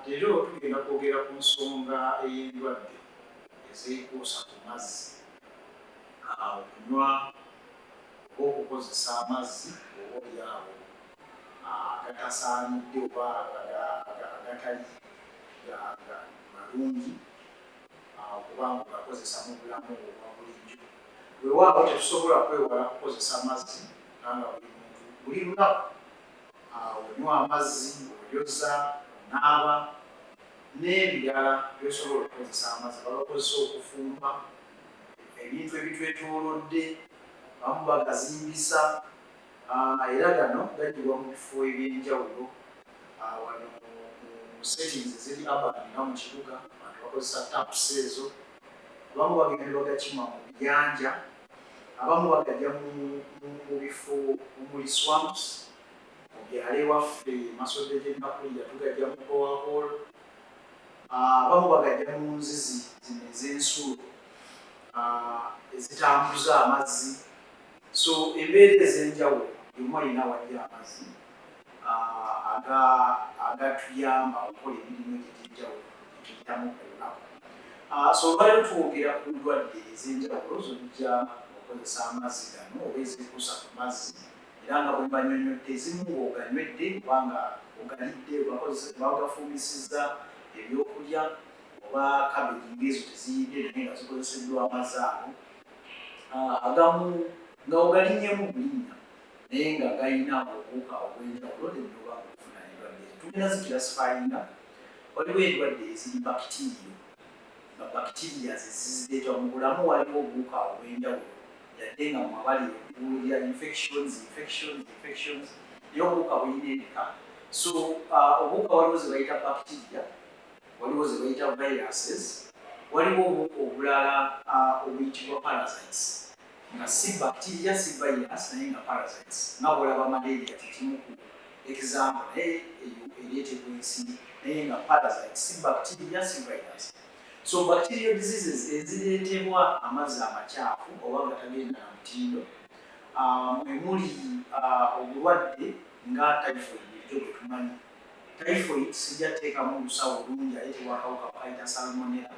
Leero tugenda kwogera ku nsonga ey'endwadde ezeekuusa ku mazzi, okunywa oba okukozesa amazzi oba olyawo agatasaanidde oba agatali malungi okuba nga ogakozesa mu bulamu obwa bulijjo. Weewaawo tetusobola kwewala kukozesa mazzi kubanga buli muntu buli lunaku onywa amazzi oyoza onaaba n'ebirala byosobola okukozesa amazzi babakozesa okufumba ebintu ebitwetolodde bamu bagazimbisa ah, era gano gajibwa mu bifo ebyenjawulo ah, wano mu settings eziri abani nga mu kibuga abantu bakozesa taps ezo abamu bagenda bagakima mu biyanja abamu bagajja mu bifo omuli swamps mu byalo ewaffe emasodde gyennakulira tugajja mu bowahol abamu bagajja mu nzizi zino ez'ensulo ezitambuza amazzi so embeera ez'enjawulo yomu alina wajja amazzi agatuyamba okukola emirimu egyo egy'enjawulo etuyitamu ku lunaku. So olwaleero twogera ku ndwadde ez'enjawulo z'ojja okukozesa amazzi gano oba ezikuusa ku mazzi era nga bwe mbanyonyodde ezimu ng'oganywedde oba nga ogalidde oba ogafumbisizza ebyokulya oba kabeji ng'ezo teziyidde naye nga zikozeseddwa amazzi ago agamu nga ogalinyemu bulinnya naye nga galina obuwuka obw'enjawulo n'ennoba okufuna endwadde ezo. Tugenda zikirasifayinga, waliwo endwadde eziri bakitiiriyo, nga bakitiiriya ze zizireeta mu bulamu. Waliwo obuwuka obw'enjawulo yadde nga mmwe abali ebbuguulo lya infections, infections, infections, naye obuwuka bulina ebika. So uh, obuwuka waliwo ze bayita bakitiiriya, waliwo ze bayita viruses, waliwo obuwuka obulala uh, obuyitibwa parasites. nga si bacteria si virus naye nga parasites nga bwolaba malaria kyekimu ku example naye eyo eretebwa ensi naye nga parasites si bacteria si virus so bacterial diseases eziretebwa amazzi amakyafu oba nga tagenda na mutindo um, emuli uh, obulwadde nga typhoid bulijjo bwetumanyi typhoid sijja teekamu lusawo lungi ayetebwa akawuka kayita salmonella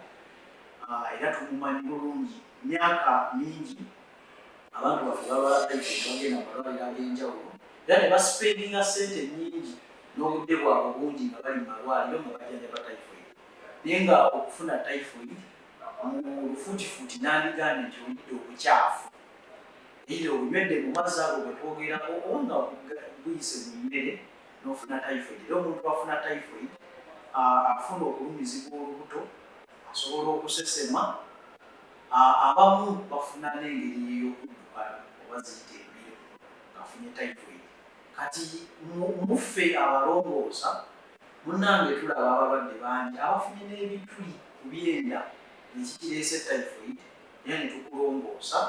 uh, era tumumanyi bulungi myaka mingi abantu baffe baba bagenda mu malwaliro ag'enjawulo era ne basipendinga ssente nnyingi n'obudde bwabwe obungi nga bali mu malwaliro nga bajjanjaba typhoid naye nga okufuna typhoid mu lufuutifuuti nandigambye nti oyidde obukyafu eitha obunywedde mu mazzi ago bwe twogerako oba nga buyise mu mmere n'ofuna typhoid era omuntu afuna typhoid afuna okulumizibwa olubuto Osobola okusesema. Abamu bafuna n'engeri ey'okuddukana oba ziyita embiro ng'afunye typhoid. Kati muffe abalongoosa munnange tulaba abalwadde bangi abafunye n'ebituli ku byenda ekikireese typhoid era ne tukulongoosa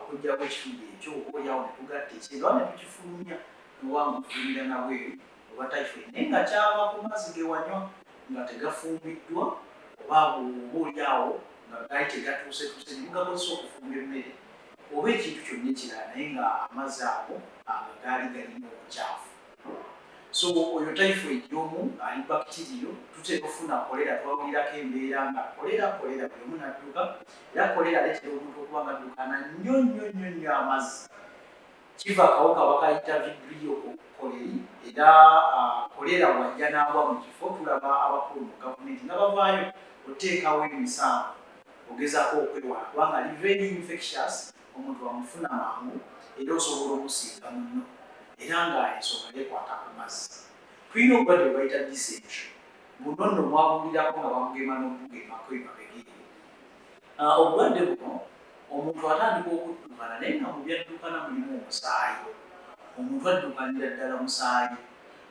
okuggyako ekituli ekyo oboolyawo ne tugatta ekyenda oba ne tukifulumya oba nga ofulumira na bweru. oba typhoid naye nga kyava ku mazzi ge wanywa nga tegafumbiddwa oba oba olyawo nga gaali tegatuusetuuse ne mugakozesa okufumba emmere oba ekintu kyonna ekirala naye nga amazzi ago ago gaali galimu obukyafu so oyo typhoid y'omu ali bakitiriyo tuteeka okufuna kolera twawulirako embeera nga kolera kolera buli omu nadduka era kolera aleetera omuntu okuba nga addukana nnyo nnyo nnyo nnyo amazzi kiva akawuka bakayita vibrio koleri era kolera ah, wajja n'agwa mu kifo tulaba abakulu mu gavumenti nga bavaayo oteekawo emisango ogezaako okwewala kubanga li very infectious omuntu amufuna mangu era osobola okusinga munno era nga ensonga yekwata ku mazzi tulina obulwadde bwebayita disentry buno nno mwabulirako nga bamugema n'okugema kwemabegeri Ah, obulwadde buno omuntu atandika okuddukana naye nga mu byaddukana mulimu omusaayi omuntu addukanira ddala musaayi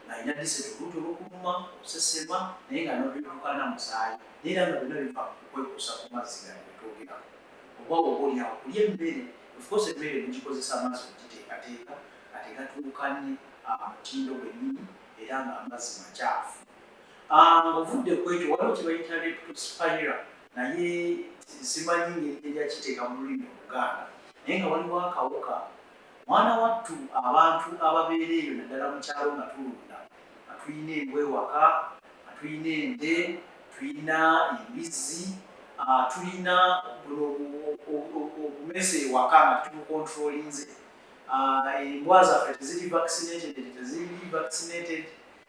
ng'alina diseti oluuti olukuluma okusesema naye nga nobiddukana musaayi naye era nga byonna biva kukwekuusa ku mazzi gano getwogerako oba oba olyawo kulya emmere ofcourse emmere mugikozesa amazzi okugiteekateeka ate gatuukanye ah, mutindo gwennyini era ng'amazzi macaafu ah, ng'ovudde kwekyo waliwo kyebayita leptospira naye simanyi ngeri tejakiteeka mu lulimi oluganda naye nga waliwo akawuka mwana wattu abantu ababeera eyo naddala mukyalo nga tulunda nga tulina embwa ewaka nga tulina ente tulina embizzi ah, tulina obumese ewaka nga tubukontrolinze ah, embwa zaffe teziri vaccinated teziri vaccinated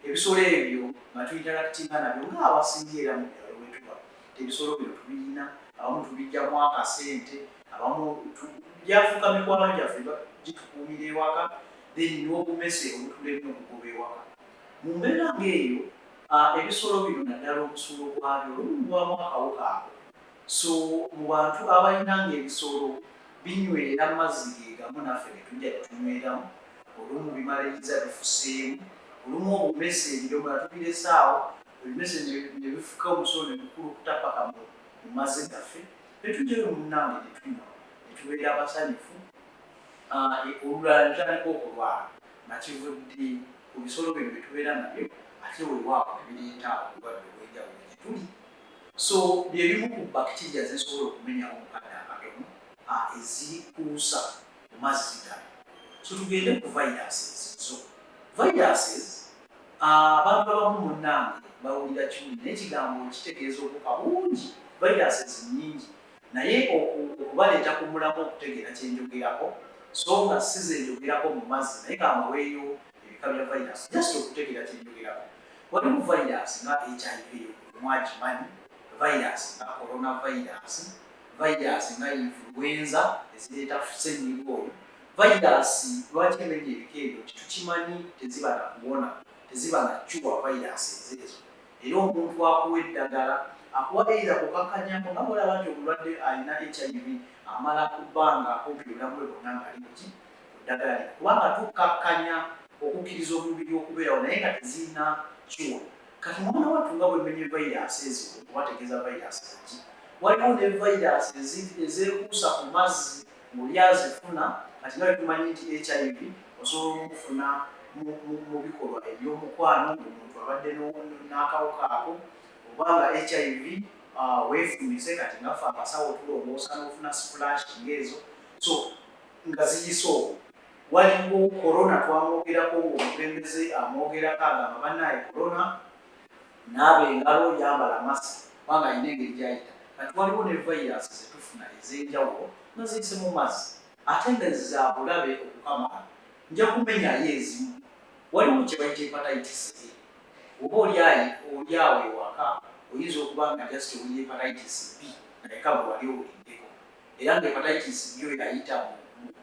Ebisolo ebyo nga tuinterakitinga nabyo nga abasinga era mu byalo wetuba ebisolo bino tubiyina, abamu tubijjamu akasente, abamu gyafuuka mikwano gyaffe gitukuumira ewaka then n'obumese obutulemye okugoba ewaka. Mu mbeera ng'eyo ebisolo bino naddala omusulo gwabyo olumu gubaamu akawuka ako. So mu bantu abalina nga ebisolo binywera mazzi ge gamu naffe ge tujja ne tunyweramu, olumu bimaliriza bifuseemu, olumu obumese ebidomola tubirese awo ebimese ne ne bifuka omusulo ne gukulukuta ppaka mu mu mazzi gaffe ne tujjayo munnange ne tunywa ne tubeera basanyufu ah, e, olulala ne tutandika okulwala nga kivudde ku bisolo bino bye tubeera nabyo ate weewaawo ne bireeta obulwadde obw'enjawulo gye tuli. So bye bimu ku bbakitiiriya ze zisobola okumenyawo mu kadde akatono a ezikuusa ku mazzi gano. So tugende ku viruses zo. Viruses a abantu abamu munnange bawulira kimu naye ekigambo kitegeeza obuwuka bungi, viruses nnyingi naye oku okubaleeta ku mulamwa okutegeera kye njogerako so nga si ze njogerako mu mazzi naye ka mbaweeyo ebika bya vayirasi just okutegera kyenjogerako waliwo vayirasi nga hiv mwagimanyi vayirasi nga corona vayirasi vayirasi nga influenza ezireeta senyiga oyo vayirasi lwaki emenya ebika ebyo kitukimanyi teziba na kuwona teziba na cuwa vayirasi ezeezo era omuntu akuwa eddagala akuwa eira kukakanyako nga mulaba nti omulwadde alina hiv amala ku bbanga kumpi obulamu bwe bonna ngaali kuki ku ddagala lino kubanga tukkakkanya okukkiriza omubiri okubeerawo naye nga tezirina kiwa. Kati mwana wattu nga bwemmenye vayiraasi ezimu oba ategeeza vayiraasi zaki, waliwo ne vayiraasi ezeekuusa ku mazzi ng'oli azifuna kati nga bwetumanyi nti HIV osobola omufuna mu bikolwa eby'omukwano ng'omuntu abadde n'akawuka ako oba nga HIV uh, weefumise kati nga ffe abasawo tulongoosa n'ofuna splash ng'ezo so nga ziyise okwo waliwo corona twamwogerako ngaomubembeze amwogerako agamba banaye corona naaba engalo yambala masi kubanga alina engeri gyayita kati waliwo ne virus zetufuna ezenjawulo nga ziyise mu mazzi ate nga zabulabe okukamala nja kumenyayo ezimu waliwo kyebayita hepatitis e oba olyayi olyawo ewaka oyinza okuba nga just oli hepatitis b naye kagwe wali owuliddeko era nga hepatitis yo yayita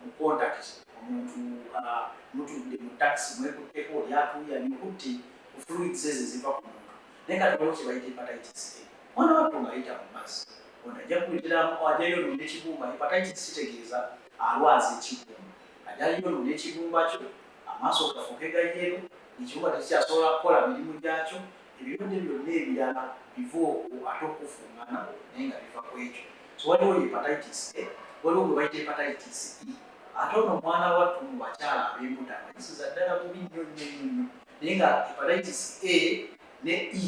mu contact omuntu uh, mutudde mu taxi mwekutteko oli atuuya nikutte ku fluids ezo eziva ku muntu naye nga tewaliwo kye bayita hepatitis a mwana wattu ng'ayita mu mazzi ono ajja kuleteramu ajayo no n'ekibumba hepatitis kitegeeza alwaza ekibumba ajayo no n'ekibumba kyo amaaso gafuuke gayeero ekibumba tekikyasobola kukola mirimu gyakyo ebirungi byonna ebirala biva okwo ate okufungana naye nga biva ku ekyo so waliwo hepatitis a waliwo gwe bayita hepatitis e ate ono omwana wattu mu bakyala ab'embuto abayisiza ddala bubi nnyo nnyo nnyo nnyo naye nga hepatitis a ne e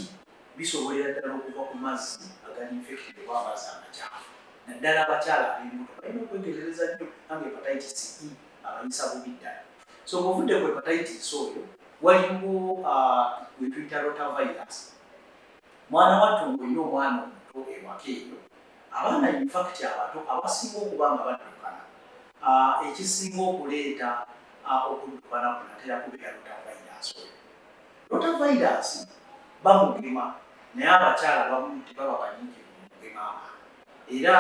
bisobolera ddala okuva ku mazzi agali infected oba amazzi amakyafu naddala abakyala ab'embuto balina okwetegereza nnyo nange hepatitis e abanyisa bubi ddala so ng'ovudde ku hepatitis oyo waliwo wetuyita rota virus mwana wattu ng'olina omwana omuto ewaka eyo abaana infakiti abato abasinga okuba nga baddukana ekisinga okuleeta okuddukana kunatera kubeera rota virus oyo rota virus bamugema naye abakyala bamu tebaba banyingi mugema abaana era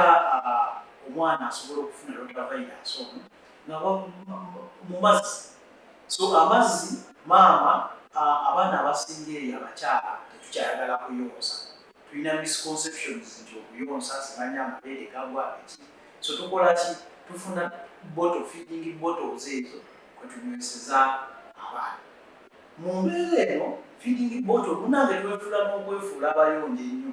omwana asobola okufuna rotavirus ono nga mu mazzi so amazzi maama abaana abasinga eyo abakyala tetukyayagala kuyonsa tulina misconceptions nti okuyonsa simanya amabeere gagwa eki so tukola ki tufuna boto feeding bottles ezo kwetunyweseza abaana mu mbeera eno feeding bottle munange twefula n'okwefuula abayonja ennyo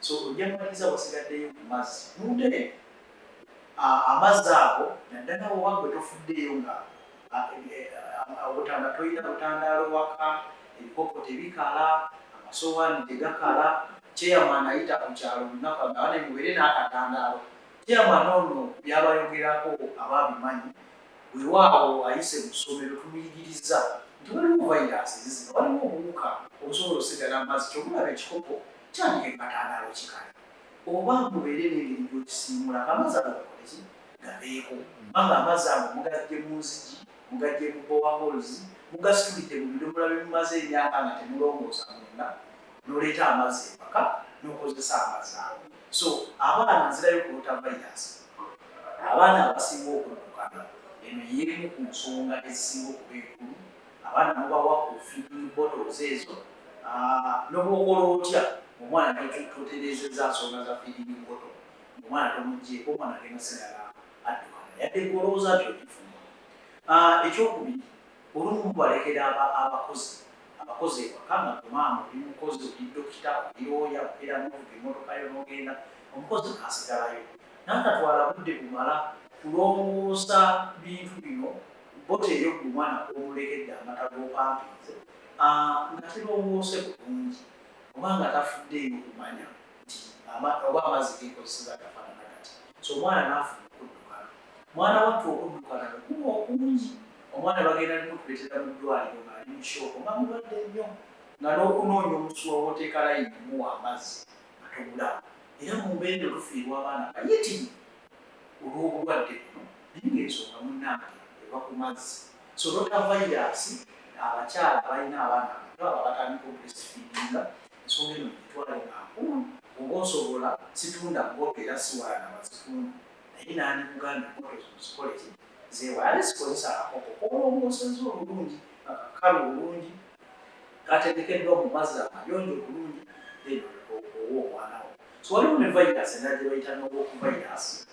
so ojja kumaliza wasigaddeyo ku mazzi nunde amazzi ago naddala wewagwe tofuddeeyo nga obutanda tolina butandaalo waka ebikopo tebikala amasowaani tegakala chairman ayita ku kyalo olunaku agaba ne mubeere n'akatandaalo chairman ono byabayogerako abaabimanyi wewaawo ayise mu ssomero tumuyigiriza nti waliwo vairasi zizino waliwo obuwuka obusobola osigala amazzi kyobulaba ekikopo Tandika empatandaalo ki kale oba mubeere n'engeri gy'okisiimuula ng'amazzi ago gakoleki gabeeko mba ng'amazzi ago mugaggye mu nzigi, mugaggye mu bowa holes, mugasitulidde mu bidomola bye mumaze emyaka nga temulongoosa munda n'oleeta amazzi ewaka n'okozesa amazzi ago. So abaana nzirayo ku rotavirus abaana abasinga okuddukana eno y'emu ku nsonga ezisinga okuba enkulu abaana mubawa ku feeding bottles ezo ah, nobwokola otya omwana toterezeza nsonga za feeding bottle omwana tomujjeeko omwana agenda sigala addukana yadde golowooza nti okifuma ah, ekyokubiri olumu mubalekera abakozi abakozi ewaka nga kumaama oli mukozi oli dokita oli oya obeera novuga emotoka yo nogenda omukozi asigalayo nantatwala budde bumala kulongoosa bintu bino Bota eryo ku mwana kwomulekedde amata gopampinze nga tirongose bulungi oba nga tafuddeeyo kumanya nti oba amazzi gekozeseza gafanana gati so omwana nafuna okuddukana mwana wattu okuddukana bwekuba okungi omwana bagenda nemutuletera mu ddwaliro nga ali mu shooko nga mulwadde nnyo nga nokunoonya omusuwa woteeka layini omuwa amazzi nga tobulawo era mumbeera eno tufiirwa abaana bayitirivu olwobulwadde buno naye ng'ensonga munnange eva ku mazzi so rotavayiraasi abakyala abalina abaana abato abo abatandika obrestfeedinga ensonga eno mugitwale nga nkulu oba osobola situnda mboto era siwala na bazitunda naye nandikugambye mboto ezo muzikole ki zewalale sikozesa akakoko kolongooseza obulungi nga kakalu obulungi kategekeddwa mu mazzi amayonjo obulungi then owa omwana wo so waliwo ne vayiraasi endala gye bayita noboku vayiraasi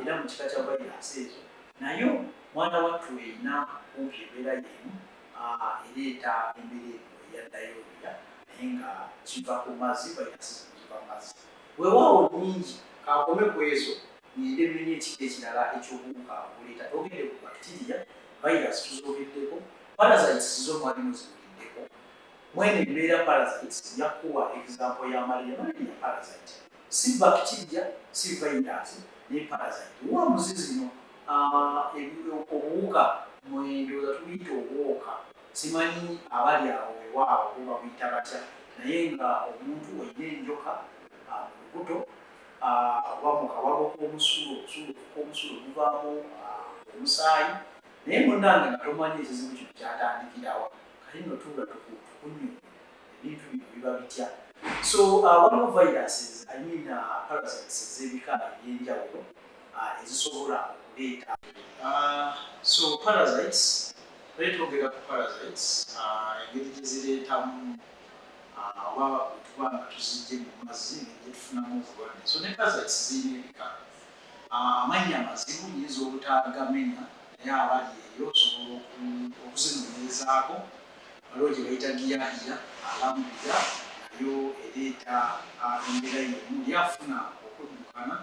era mu kika kya vayiraasi ezo nayo mwana wattu erina kumpi embeera yeemu ereeta embeera eno eya dayoriya naye nga kiva ku mazzi vayiraasi zino ziva mu mazzi weewaawo nnyingi kaakome ku ezo ng'ende mmenye ekika ekirala eky'obuwuka obuleeta togende ku bakitiriya vayiraasi tuzoogeddeko parasites zo mwali muziwuliddeko mwene embeera parasites nja kukuwa egizampo ya malaria malaria parasite Si bacteria, si virus naye parasite. Wa muzi zino ah, obuwuka mwe ndowooza tubuyita obwoka. Simanyi abali awo wewaawo bo babuyita batya naye nga omuntu olina enjoka ah, mu lubuto ah, oba mu kawago k'omusulo, omusulo k'omusulo guvaamu omusaayi naye munange nga tomanyi ekizibu kino kyatandikirawa kati nno tuula tukunyonyola. ebintu bino biba bitya. So uh, waliwo viruses I mean uh, parasites ez'ebika eby'enjawulo uh, ezisobola okuleeta uh, so parasites bali twogera ku parasites uh, engeri gye zireetamu uh, oba bwetuba nga tuzijje mu mazzi negye tufunamu obulwadde so ne parasites zirina ebika uh, amannya amazibu nyinza obutagamenya naye abali eyo osobola okuzinonyerezaako Waliwo gye bayita Giyahiya, Alhamdulillah nayo ereeta embeera y'emu. Ye afuna okuddukana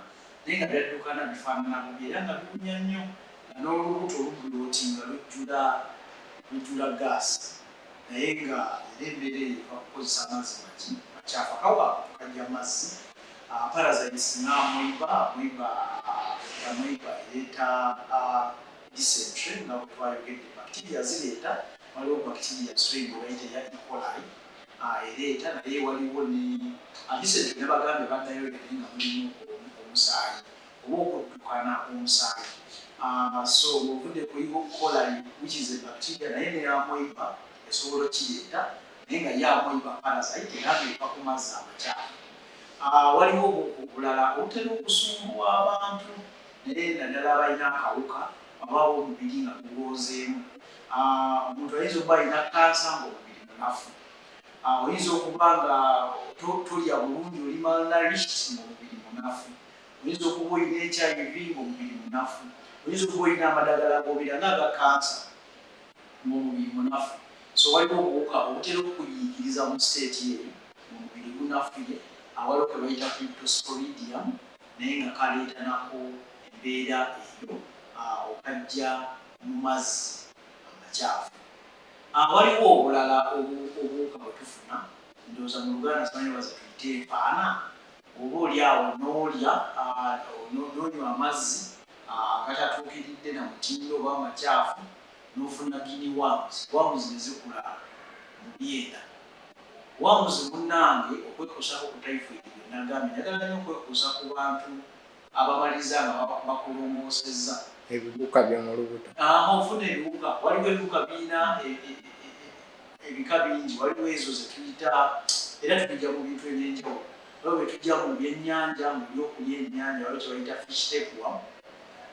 naye nga by'addukana bifaanana bubi era nga biwunya nnyo nga n'olubuto lubulootinga lujjula lujjula ggaasi naye nga era embeera eyo eva kukozesa amazzi maki macaafu. Akawa ako tukajja mazzi, parasites nga amoeba, amoeba, amoeba ereeta dysentery nga bwe twayogedde bacteria zireeta waliwo bacteria strain gye bayita eya E. coli ah, ereeta naye waliwo ne ah, dysentery ne bagambye ba diarrhea naye nga mulimu omusaayi oba okuddukana omusaayi ah, so ng'ovudde ku E. coli which is a bacteria naye ne amoeba esobola okireeta naye nga ye amoeba parasite era ng'eva ku mazzi amakyafu Ah, waliwo obukukulala obutera okusumbuwa abantu naye naddala abalina akawuka oba ab'omubiri nga gugonzeemu. Omuntu ayinza okuba alina kkansa ng'omubiri munafu. Oyinza okuba nga tolya bulungi, oli malnourished ng'omubiri munafu. Oyinza okuba olina HIV ng'omubiri munafu. Oyinza okuba olina amadagala g'obira nga aga kkansa ng'omubiri munafu. So waliwo obuwuka obutera okukuyiikiriza mu state eyo ng'omubiri gunafuye, awaliwo ke bayita Cryptosporidium. naye nga kaleeta nako embeera eyo awo kajja mu mazzi amakyafu. A, Waliwo obulala obu, obuwuka bwe tufuna, ndowooza mu Luganda simanyi oba ze tuyita enfaana, oba oli awo n'olya, a, no, n'onywa amazzi a, agatatuukiridde na mutindo oba amakyafu, n'ofuna guinea worms, worms ne zikula mu byenda. Wamuzi munange okwekuusako ku typhoid gwe nagambye njagala nyo okwekuusa ku bantu abamaliriza nga bakulongoosezza. Ebiwuka byo mu lubuto. Haa ofuna ebiwuka waliwo ebiwuka biyina ebika bingi waliwo ezo zetuyita era tubija mu bintu ebyenjawulo waliwo byetujja mu byenyanja mu byokulya enyanja waliwo kyebayita fish tapeworm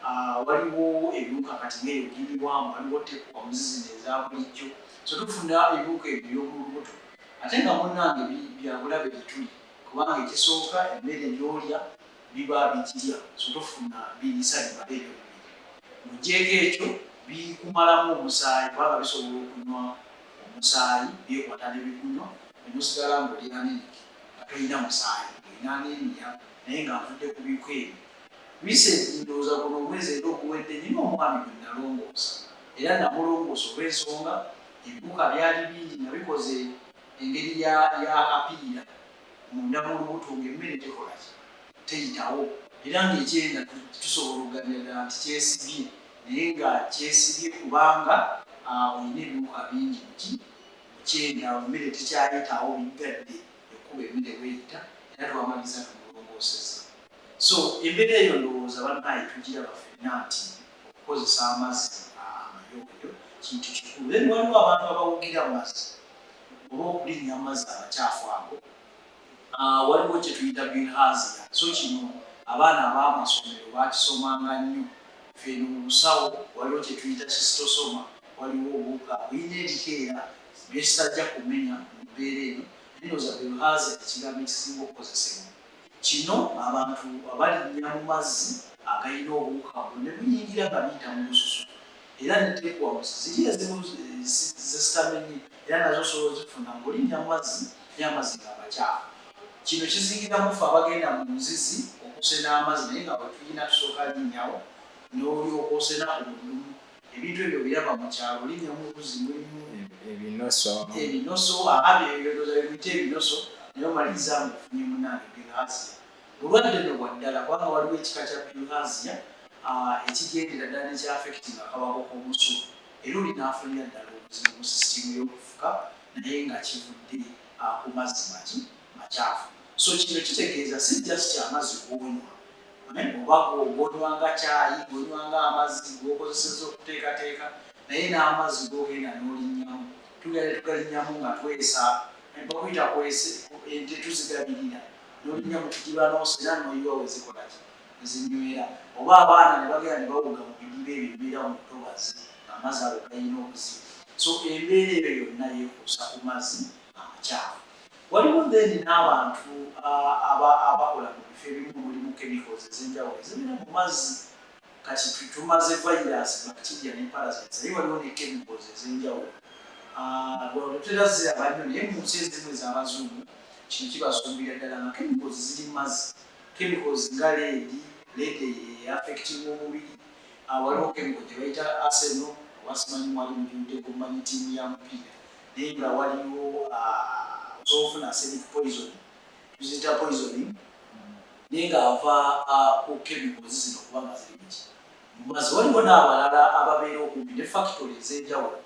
haa waliwo ebiwuka kati ngeyo guinea worm waliwo tapeworms zino ezabulijjo So tufuna ebiwuka ebyo eby'omu lubuto ate nga munnange bi, bya bulabe gye tuli, kubanga ekisooka emmere gy'olya biba bigirya, so tofuna biriisa bimala ebyo bibiri. Ng'oggyeeko ekyo, bikumalamu omusaayi, kubanga bisobola okunywa omusaayi, byekwata ne bigunywa, ne musigala ng'oli anemic nga tolina musaayi, ng'olina anemia, naye nga nvudde ku biwuka ebyo, Recently, ndowooza guno omwezi era oguwedde, nnina omwami gwe nnalongoosa era nnamulongoosa olw'ensonga, ebiwuka byali bingi nga bikoze engeri ya, ya apiira munda mu lubuto ng'emmere tekola ki? Teyitawo, era ng'ekye, nga tu, tusobola okugabira ddala nti kyesibye, naye nga kyesibye kubanga, ah, olina ebiwuka bingi mu ki? Mu kyenda, awo emmere tekyayitawo, biggadde ekkubo emmere w'eyita, era twamalirizza tumulongoosezza. So embeera eyo ndowooza banaye tugiraba fenna nti okukozesa amazzi amayonjo kintu kikulu then waliwo abantu abawugira mazzi oba okulinnya amazzi amakyafu ago ah, waliwo kyetuyita bilhazia so kino abaana ab'amasomero bakisomanga nnyo feno mu busawo waliwo kyetuyita kistosoma waliwo obuwuka bulina ebikeera byesitajja kumenya mu mbeera eno naye ndowooza bilhazia ekigambo ekisinga okukozesebwa Kino abantu abalinnya mu mazzi agalina obuwuka buno ne buyingira nga biyita mu lususu era ne teggwamuzi. Ziri ezimu ze sitamenyi era nazo osobola ozifuna ng'olinnya mu mazzi naye amazzi nga macaafu. Kino kizingiramu ffe abagenda mu nzizi okusena amazzi naye nga bwe tuyina tusooka linnyawo n'olyoka osena ku mudumu. ebintu ebyo biraba mu kyalo linya mu buzi mulimu ebinoso ebinoso ababi ebyodoza bimuyita ebinoso naye omaliriza nga ofunye munaange bilhasia bulwadde no bwa ddala kubanga waliwo ekika kya bilhasia ekigendera ddala nekyafekiti nga kabako k'omusu era oli n'afunira ddala obuzibu mu sisitiimu y'okufuka naye nga kivudde ku mazzi maki makyafu so kino kitegeeza si just kyamazzi kuonywa eh, oba gonywa nga kyayi gonywa nga amazzi gokozeseza okuteekateeka naye n'amazzi gogenda n'olinnyamu tugenda tugalinnyamu nga twesa eh, bakuyita kwese ente tuzigabirira n'olinnya mu kidiba n'osa era noyiwa wezikolaki ezinywera oba abaana ne bagenda ne bawuga mu bidiba ebyo bibeera mu ntobazi amazzi ago galina okuziba so embeera eyo yonna yekuusa ku mazzi amakyafu Waliwo then n'abantu abakola mu bifo ebimu mulimu chemicals ezenjawulo ezibeera mu mazzi kati tumaze virus, bacteria ne parasites naye waliwo ne chemicals ezenjawulo tetera ziraba nnyo naye mu nsi ezimu ez'abazungu kino kibasumbira ddala nga chemicals ziri mu mazzi chemicals nga leedi, leedi eyo eaffectinga omubiri waliwo chemical gye bayita arsenal oba simanyi mwali mugiwuddeko mumanyi ttiimu ya mupiira. Naye nga waliwo ah, osobola ofuna acidic poison tuziyita poisoning naye nga ava ah, ku chemicals zino kuba nga ziri muki mumazi waliwo n'abalala ababeera okumpi ne factory ez'enjawulo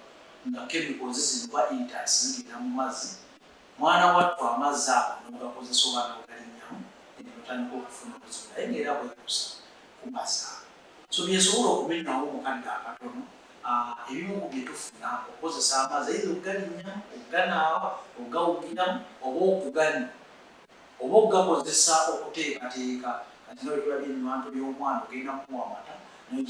nga chemicals zino oba intax zigenda mu mazzi mwana wattu amazzi ago n'ogakozesa oba n'ogalinnyamu eno otandika okufuna obuzibu naye ng'era bwekusa ku mazzi ago So byensobola okumenyawo mu kadde akatono, ebimu ku byetufuna okukozesa amazzi either okugalinnyamu, okuganaaba, okugawugiramu oba okuganywa oba okugakozesa okuteekateeka kati nga bwetulabye ebibantu by'omwana ogenda kumuwa amata naye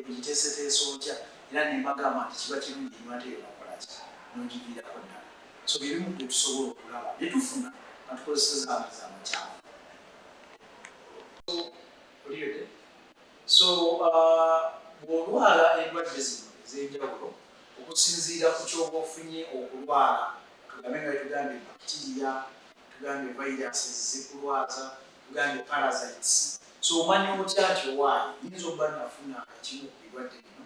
ogiteeseteese otya era nembagamba nti kiba kirungi enywa ate yona okolaki nogiviirako ddala so byebimu ku byetusobola okulaba byetufuna nga tukozeseza amazzi amakyamu so uh, bw'olwala endwadde zino ez'enjawulo okusinziira ku kyoba ofunye okulwala tugambe nga tugambye bacteria tugambye viruses zikulwaza tugambye parasites so omanya otya nti owaayi yinza okuba nafuna ekimu ku birwadde bino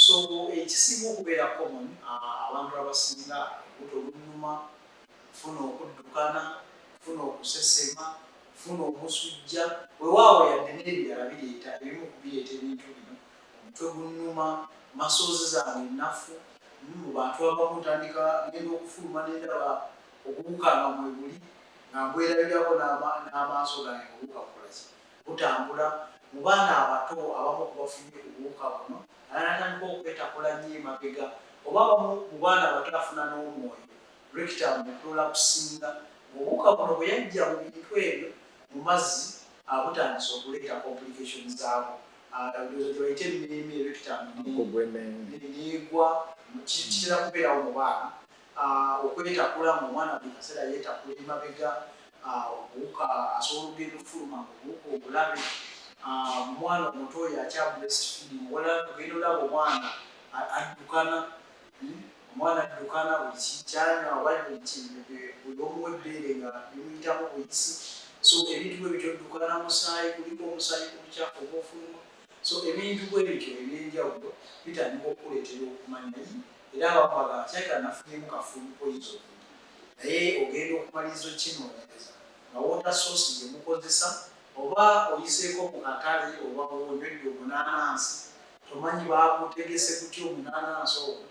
so ekisinga okubeera common uh, abantu abasinga olubuto olunuma funa okuddukana funa okusesema funa omusujja wewaawo yadde n'ebirala bireeta ebimu ku bireeta ebintu bino omutwe gunnuma masozi zange nnafu mu bantu abamu ntandika ngenda okufuluma nendaba obuwuka nga mwebuli nga mbwerabirako n'amaaso gange obuwuka bukolazi butambula mu baana abato abamu kubafunye obuwuka buno alanatandika okwetakula nnyo emabega oba abamu mu baana abato afuna n'omwoyo Rectum etoola kusinga ng'obuwuka buno bwe yajja mu bintu ebyo mu mazzi abutandise okuleeta complication zaabwo ndowooza gyebayita emmeeme rectum neegwa kitera kubeerawo mu baana okwetakula mu omwana buli kaseera yeetakula emabega obuwuka asobola okugenda okufuluma obuwuka obulabe omwana omuto oyo akya breast feeding wala ogenda olaba omwana addukana omwana addukana buli kyanywa oba buli omuwa ebbeere nga bimuyitamu buyisi so ebintu bwe bityo ddukana musaayi kuliko omusaayi ku bukyafu oba ofuluma so ebintu bwe bityo ebyenjawulo bitandika okukuleetera okumanya yi era abakwagala kyayita nafunyemu kafuulu poyizo naye ogenda okumaliriza okukinoonyereza nga wota soosi gye mukozesa oba oyiseeko mu katale oba onywedde omunaanansi tomanyi baakutegese kutya omunaanansi ogwo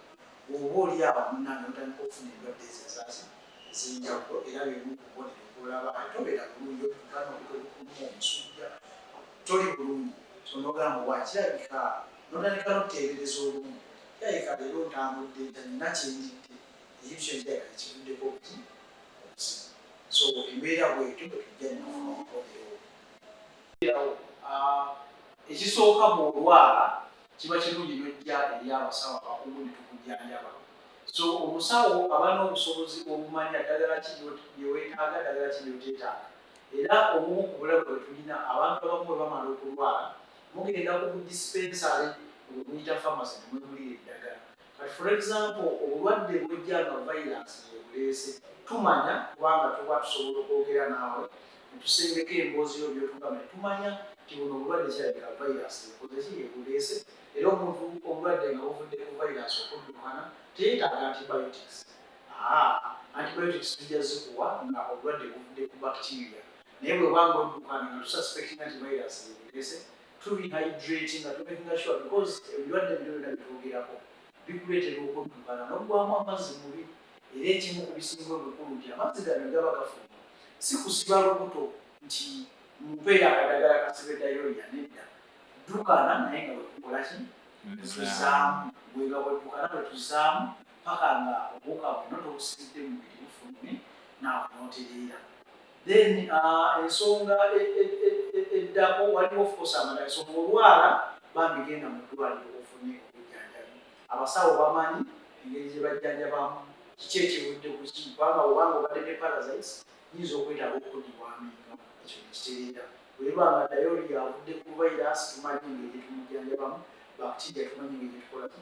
oba oli awo munnange notandika okufuna endwadde ezo ezazi ezenjawulo era bemu kubonero kulaba ate obeera bulungi okugana okukuluma omusujja toli bulungi sonogamba wakirabika notandika nokuteebereza olumu kirabika leero ntambudde nta nina kyendidde ekyo kirabika kivuddeko okuti okusimu so embeera bwetyo bwetujja nafuna omukomero ekisooka bw'olwala kiba kirungi n'ojja eri abasawo abakugu ne tukujjanjaba so omusawo aba n'obusobozi obumanya ddagala ki lye weetaaga ddagala ki lyoteetaaga era obumu ku bulabe bwe tulina abantu abamu bwe bamala okulwala mugenda ku budisipensaale obumuyita famasi ne mwegulira eddagala But for example, obulwadde bwejja nga virus yebuleese tumanya kubanga tuba tusobola okwogera naawe netusembeka emboozi yo byotugamba tumanya nti buno obulwadde kirabika virus yekozeki yebuleese era omuntu obulwadde nga buvudde ku virus okuddukana teyetaaga antibiotics ah, antibiotics tujja zikuwa nga obulwadde buvudde ku bacteria naye bwebanga oddukana nga tusaspekinga nti virus yebuleese tuli hydrate nga tumakinga sure because ebirwadde byonna bitwogerako bikuleetera okuddukana n'oggwamu amazzi mubi era ekimu ku bisinga obukulu nti amazzi gano gaba gafuuka si kusiba lubuto nti mumpe yakadagala kasibe dayoriya nedda ddukana naye nga wekukola ki tuzaamu bwega weddukana bwe tuzaamu paka nga obuuka bwonna tobusibidde mubiri bufulumi naawe notereera Then uh, ensonga e, e, e, eddako waliwo of course amalala ensonga olwala bambi genda mu ddwaliro ofune obujjanjabi abasawo bamanyi engeri gye bajjanjabamu kiki ekivudde ku kiki kubanga obanga obadde ne parasites nyinza okwetaaga okudibwamu enga ekyo nekitereera webanga dayoli yavudde ku virus tumanyi engeri gyetumujjanjabamu bacteria tumanyi engeri gyetukolaki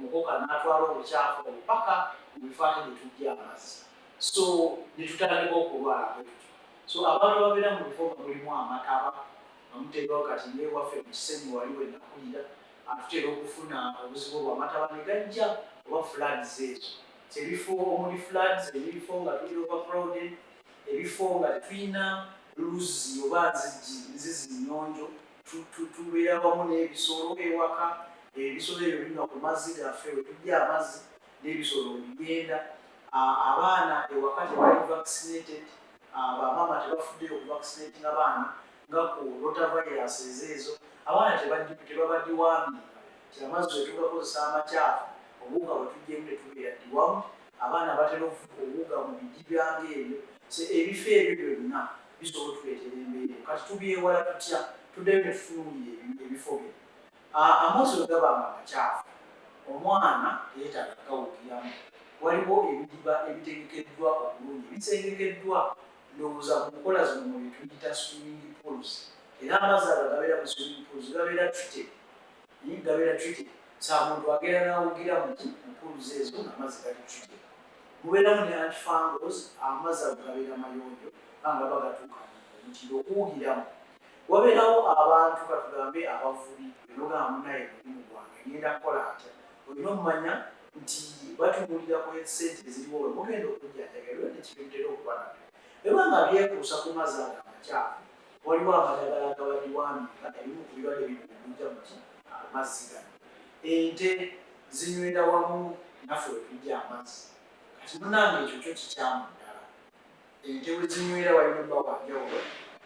mukoka n'atwala obukyafu obupaka mu bifo ate ne tujja amazzi so ne tutandika okulwala bwe tutyo so abantu ababeera mu bifo nga mulimu amataba nga muteekawo kati newaffe mu kisenyi wali we nakulira atutera okufuna obuzibu obwamataba ne gajja oba floods ezo ebifo omuli floods ebifo nga tuli overcrowded ebifo nga tetulina luzzi oba nzigi nzizi nnyonjo tubeera wamu n'ebisolo ewaka ebisolo ebyo binywa ku mazzi gaffe wetujja amazzi n'ebisolo bigenda abaana ewaka tebali vaccinated bamaama tebafuddeyo okuvaccinating abaana nga ku rota virus ezo ezo abaana tebabadiwambi ti amazzi wetugakozesa amakyafu obuwuga bwetujjemu netubeera diwamu abaana batera obuwuga mu biji byange ebyo ebifo ebyo byonna bisobola otuleetera embeera eno kati tubyewala tutya tuddeyo ne tutunuulira ebifo bino amoozi bwe gaba nga makyafu omwana teyeetaaga gawugiramu waliwo ebidiba ebitegekeddwa obulungi bisengekeddwa ndowooza ku nkola zino mu byetuyita swimming pools era amazzi ago gabeera mu swimming pools gabeera treated Naye gabeera treated. Saa muntu agenda n'awugira mu mpuluza ezo ng'amazzi gali treated. Mubeeramu ne antifungals, amazzi ago gabeera mayonjo nga nga bagatuuka omutindo okuwugiramu. Wabeerawo abantu katugambe abavubi enogamba munaye mulimu gwange ngenda kukola atya olina omumanya nti batubuulira ku sente eziriwo we mugenda okujjanjabirwa nekibintera okuba nabyo ebanga byekuusa ku mazzi ago amakyafu waliwo amadagala gabaliwambika ebimu ku birwadde bibinja muti amazzi gano ente zinywera wamu naffe wetujja amazzi kati munange ekyo kyo kikyamu ddala ente wezinywera walimuba wanjawulo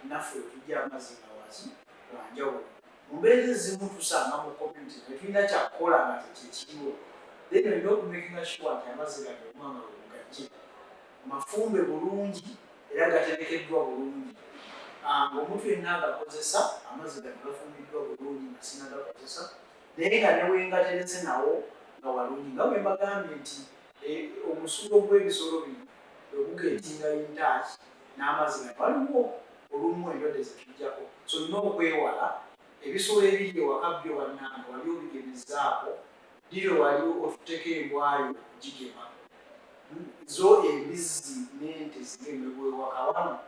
naffe wetujja amazzi gawazi wanjawulo mumbeera ezimu tusanga mu community naye tulina kyakukola nga tekyekiriwo then olina okumekinga sure nti amazzi gano omwanga wegajje mafumbe bulungi era gaterekeddwa bulungi ah, ng'omuntu yenna agakozesa amazzi gano gafumbiddwa bulungi nga sinagakozesa naye nga newengaterese nawo nga walungi nga bwe mbagambye nti eh, omusulo gw'ebisolo bino bwegugetinga intaaki n'amazzi gano waliwo olumu endwadde zetujjako so nina okwewala ebisolo ebiri ewaka byo bannange wali obigemezaako Dile wali otuteka embwayo jigema hmm? zo embizzi nente zigemebwewaka wano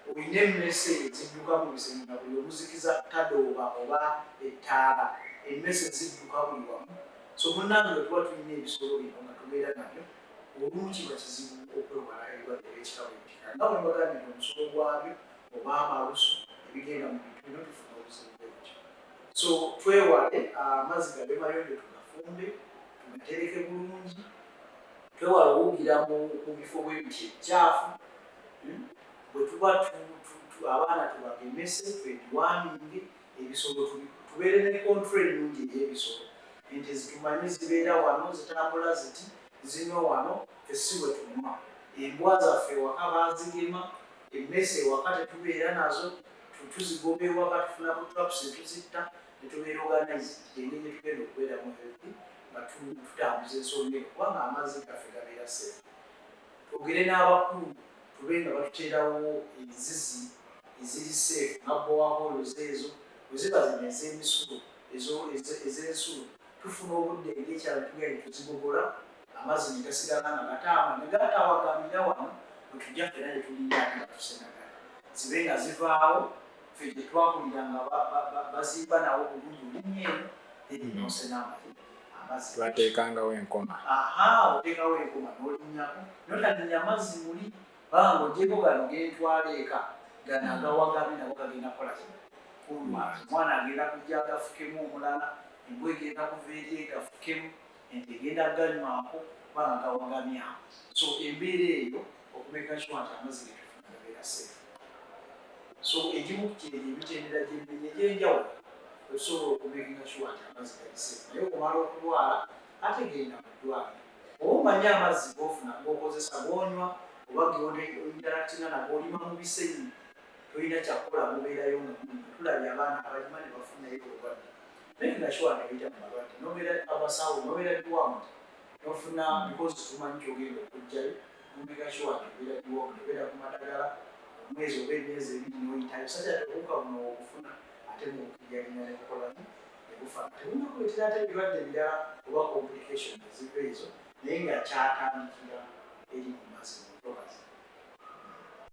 olina emmese ezidduka mu biseminga buli omuzikiza tadooba oba ettaala emmese zidduka buli wamu so munange wetuba tulina ebisolo bino nga tubeera nabyo olumu kiba kizibu okwewala ebirwadde byekitabo ekika nga bwe mbagambye nti omusolo gwabyo oba amalusu ebigenda mu bintu bino tufuna obuzibu bwekyo so twewale amazzi gabe mayonjo tugafumbe tugatereke bulungi twewale okuwugira mu bifo bwebiti ekyafu hmm? bwetuba abaana tubagemese twetuwaminge ebisolo tubeere ne kontra enungi eyebisolo ente zitumanyi zibeera wano zitambula ziti zino wano fesiwe tunywa embwa zaffe waka bazigema emmese waka tetubeera nazo tuzigomba ewaka tufunako traps etuzitta netubeera organized enge gyetugenda okubeera mu healthy nga tutambuza ensonga eno kubanga amazzi gaffe gabeera safe twogere n'abakulu tube nga batuteerawo enzizi eziri safe nga bowaholos ezo weziba zino ez'emisulo ez'ensulo tufuna obudde ng'ekyalo tugenda tuzigogola amazzi ne gasigala nga gataama ne gatawagamira wano bwe tujja fena gye tulinda ate nga tusenagala zibe nga zivaawo fe gye twakulira nga bazimba nawo obulungi olinnya eno eri nosena amazzi twateekangawo enkoma aha oteekawo enkoma n'olinnyako notalinnya mazzi muli baba ng'ogyeko gano gentwala eka gano agawagamye nago gagenda kukola kino kulwaki omwana agenda kujja agafukemu omulala embwa egenda kuva eri egafukemu ente egenda kuganywako kuba nga gawagamya so embeera eyo okumeka sure nti amazzi getufuna gabeera safe so egimu kyeri emitendera gyemenya egyenjawulo osobola okumekinga sure nti amazzi gali safe naye okumala okulwala ate genda mu ddwaliro oba omanye amazzi gofuna gokozesa gonywa oba geinteractinga nago olima mu bisenyi tolina kyakukola mubeerayo nga tulabye abaana abalima ne bafunayo obulwadde naye nga kiwa nebija mu malwadde nobeera abasawo nobeera biwamuta nofuna bikozi hmm. tumanyi kyogenda okujjayo omega kiwa nebera biwamu nebera ku madagala omwezi oba emyezi ebiri noyitayo sajja tebuka buno okufuna ate mukijalina nekukola nekufa tebunakuletera ate ebirwadde ebirala oba complication eziva ezo naye nga kyatandikira eri mu mazima